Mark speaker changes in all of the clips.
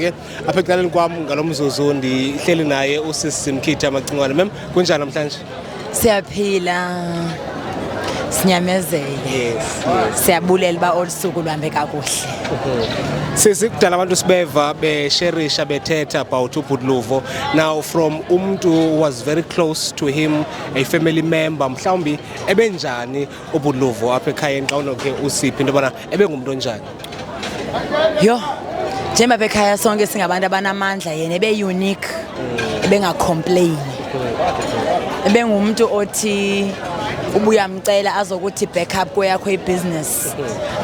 Speaker 1: ke apha ecaleni kwam ngalo mzuzu ndihleli naye usisi mkhithi amacingwane mem kunjani namhlanje siyaphila
Speaker 2: sinyamezele yes,
Speaker 1: yes. siyabulela
Speaker 2: uba olu suku luhambe kakuhle
Speaker 1: sisi kudala abantu sibeva besherisha bethetha about ubhudluvo now from umntu was very close to him a family member mhlawumbi ebenjani ubuluvo apha ekhayeni xa unoke usiphi into yobana ebengumntu onjani
Speaker 2: yho njengoba apha ekhaya sonke singabantu abanamandla yena ebe-unique ebengacomplaini ebengumntu othi ubuyamcela azokuthi back up kweyakho ibhizinesi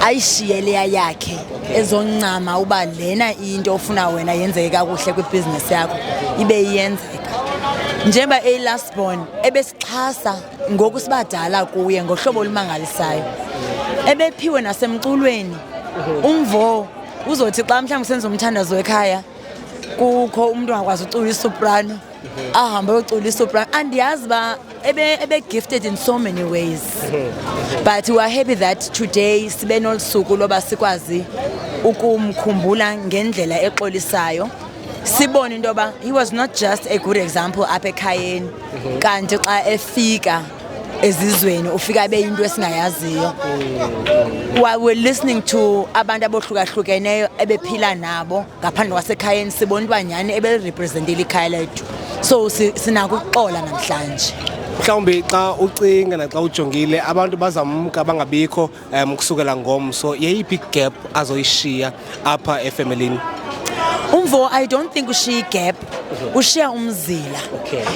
Speaker 2: ayishiye leya yakhe ezoncama uba lena into ofuna wena yenzeke kakuhle kwibhizinesi yakho ibe iyenzeka njengoba eyi-last born ebesixhasa ngoku sibadala kuye ngohlobo olumangalisayo ebephiwe nasemculweni mhm. umvo uzothi xa mhlawumbi senza umthandazo wekhaya kukho umntu angakwazi ucula isoprano mhm. ahambe yocula isoprano andiyazi uba ebe-gifted in so many ways mhm. but weare happy that today sibe nolu suku loba sikwazi ukumkhumbula ngendlela exolisayo sibone into yoba he was not just a good example apha ekhayeni kanti xa efika ezizweni ufika beyinto esingayaziyo while we're listening to abantu abohlukahlukeneyo ebephila nabo ngaphandle kwasekhayeni sibona uba nyhani ebelirepresentile ikhaya lethu so sinako ukuxola namhlanje mhlawumbi xa
Speaker 1: ucinga naxa ujongile abantu bazamka bangabikho um kusukela ngomso yeyiphi igap azoyishiya apha efemelini umvo
Speaker 2: i don't think ushiya igap mhm. ushiya umzila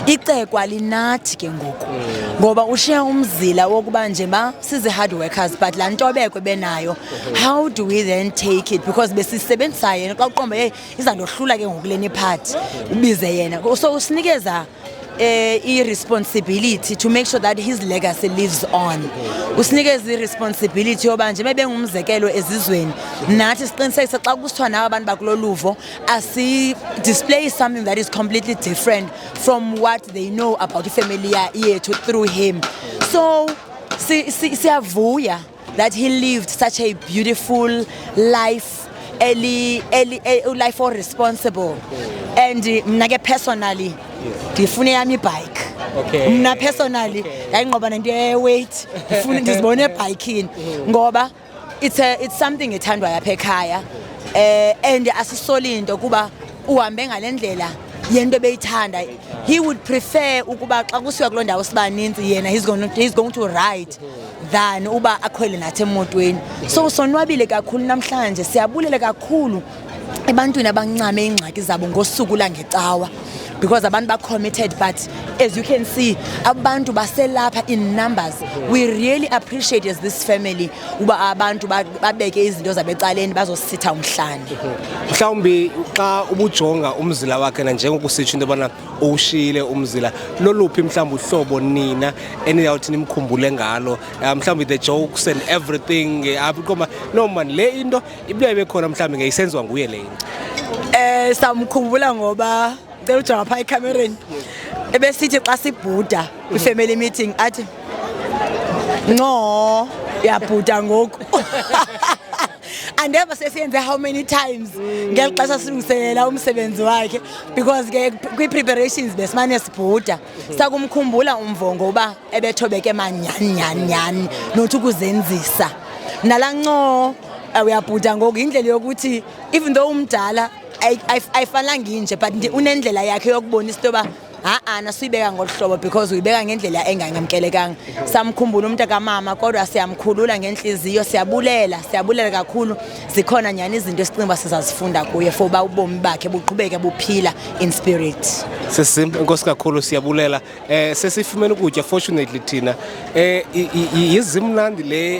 Speaker 2: icekwa linathi ke ngoku mm. ngoba ushiya umzila wokuba nje ma sizi-hard workers but laa ntobeko benayo mhm. how do we then take it because besisebenzisayo yena xa uqomba yeyi izandohlula ke ngoku leni iphathi mhm. ubize yena so usinikeza eh i-responsibility to make sure that his legacy lives on usinikeza i-responsibility yoba nje bebengumzekelo ezizweni nathi siqinisekise xa kusithiwa nawo abantu bakulo luvo asidisplayi something that is completely different from what they know about ifamily yethu through him so siyavuya si, si that he lived such a beautiful life eli eli e- life or responsible and eh, mna ke personally ndifune yam ibhayikhi Okay. mna personally yayingqoba nento yeweight ndifune ndizibone ebhayikini ngoba it's, a, it's something ethandwayo apha ekhaya um and asisoli nto kuba uhambe ngale ndlela yento ebeyithanda he would prefer ukuba xa kusiwa kuloo ndawo sibaninzi yena he's going, he's going to ride than uba akhwele nathi emotweni so sonwabile kakhulu namhlanje siyabulela kakhulu ebantwini abancame iingxaki zabo ngosuku langecawa because abantu bacommitted but as you can see abantu baselapha in numbers we really appreciate as this family uba abantu babeke izinto zabecaleni bazositha umhlane mhlawumbi
Speaker 1: xa ubujonga umzila wakhe nanjengokusitsho into yobana uwushiyile umzila loluphi mhlawumbi uhlobo nina eniyawuthi nimkhumbule ngalo ah, mhlawumbi the jokes and everything eh, abiqoma ah, no mani le into ibuya ibe khona mhlawumbi ngeyisenziwa nguye le into um samkhumbula
Speaker 2: ngoba Cela ujonga phaa ekhamereni ebesithi xa sibhuda kwi-family meeting athi ncoo uyabhuda ngoku andeva sesiyenze how many times ngeli xesha silungiselela umsebenzi wakhe because ke kwi-preparations besimane sibhuda sakumkhumbula umvongo uba ebethobeke manyhani nyhani nyhani nothi ukuzenzisa nala ncoo uyabhuda ngoku yindlela yokuthi even though umdala ayifanelanga inje but nje unendlela yakhe yokubonisa into yoba ha-a nasuyibeka ngolu hlobo because uyibeka ngendlela engangamkelekanga samkhumbula umntu kamama kodwa siyamkhulula ngentliziyo siyabulela siyabulela kakhulu zikhona nyhani izinto esicinga uba sizazifunda kuye for uba ubomi bakhe buqhubeke buphila in spirit sisim inkosi
Speaker 1: kakhulu siyabulela Eh sesifumene ukutya fortunately thina eh yizimnandi le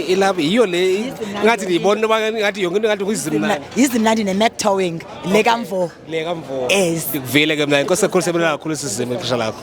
Speaker 1: ilapha yiyo le ngathi ndiyibona uba ngathi yonke into ngathi kuyizimnandi yizimnandi nemetowing
Speaker 2: le kamvo
Speaker 1: le kamvo yes ndikuvile ke mna inkosi ekhulu sebenela kakhulu sizime ixesha lakho